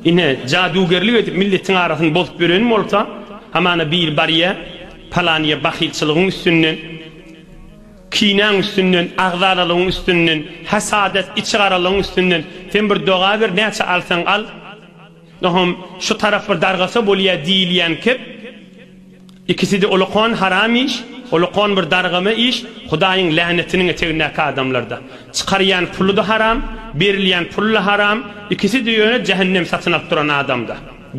Ine, jadugerlik edip milletiň arasyny bozup ýörenim bolsa, hamana biri barýa, palanyýa bahylçylygyň üstünden, kinäň üstünden, agzalalygyň üstünden, hasadat, içigaralygyň üstünden, sen bir doga ber, näçe alsaň al, nohum, şu tarap bir dargasa bolýa diýilýän kep, Ikiside ulukon haram iş, ulukon bir dargama iş, Hudaýyň länetiniň etegindäki adamlarda. Çykarýan pulyda haram, berilýän pulla haram, ikiside ýöne jähennem satyn alyp duran adamda.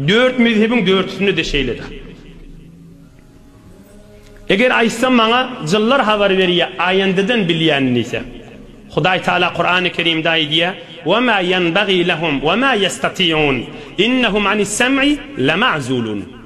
Dört mezhebiň dörtüsindede şeýlede. Eger aýtsam maňa jynlar habar berýä aýandadan bilýän diýse. Hudaý Taala Kurany Kerimde aýdýa, Ve ma ýenbagi lehum ve ma ýestatiun, innehum anis sem'i lema'zulun.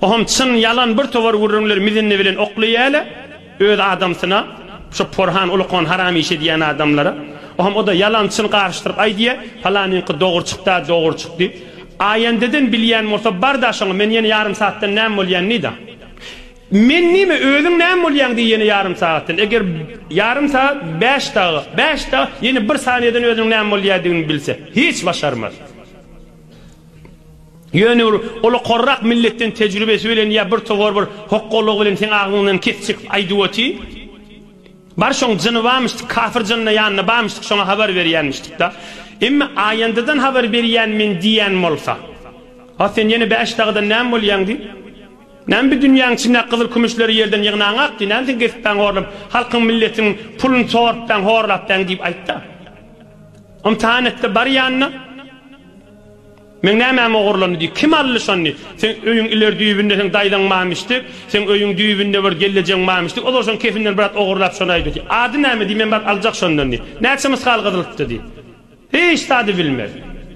Ohum çyn ýalan bir towar gürrüňler mizindi bilen oklaýala öz adamsyna şo porhan ulukon haram iş edýän adamlara ohum oda ýalan çyn garyşdyryp aýdýa palanyňky dogry çykda dogry çyk diýip aýandeden bilýän bolsa barda şoňa men ýene ýarym saatdan näme bolýan diýda men nime özüň näme bolýaň diý ýene ýarym sagatdan eger ýarym saat bäş daga bäş daga ýene bir saniýeden özüniň näme bolýadygyny bilse hiç başarmaz. Ýöne ol, ol okarrak milletden tejribesi bilen ýa birtowar bir hokgalygy bilen seň agzyňdan kesip çekip aýdyp oty. Bar şoň jyny bamyşdyk kafyr jynna ýanynda bamyşdyk şoňa habar berýänmişdikda. Emme aýandadan habar berýän men diýýän bolsa. A sen ýene bäş dagydan näme bolýaň diý. Näme bi dünýäň içindäki gyzyl kümüşleri ýerden ýygnaňak diý. Näme sen kesipbäň horlap halkyň milletiň pulyny sorupbäň horlapbäň diýip aýtda. Ymtahan etde bar ýanyna. Meň nämäm ogurlandy diý. Kim aldy şony? Seň öýüň ileri düýbünde seň daýzaň mamyşdyk, seň öýüň düýbünde bir gellejeň mamyşdyk, olar şoň kefinden bir zat ogurlap şony aýda diý. Ady näme diý, men baryp aljak şondan diý. Näçe mysgal gyzylypdy diý. Hiç zady bilmez.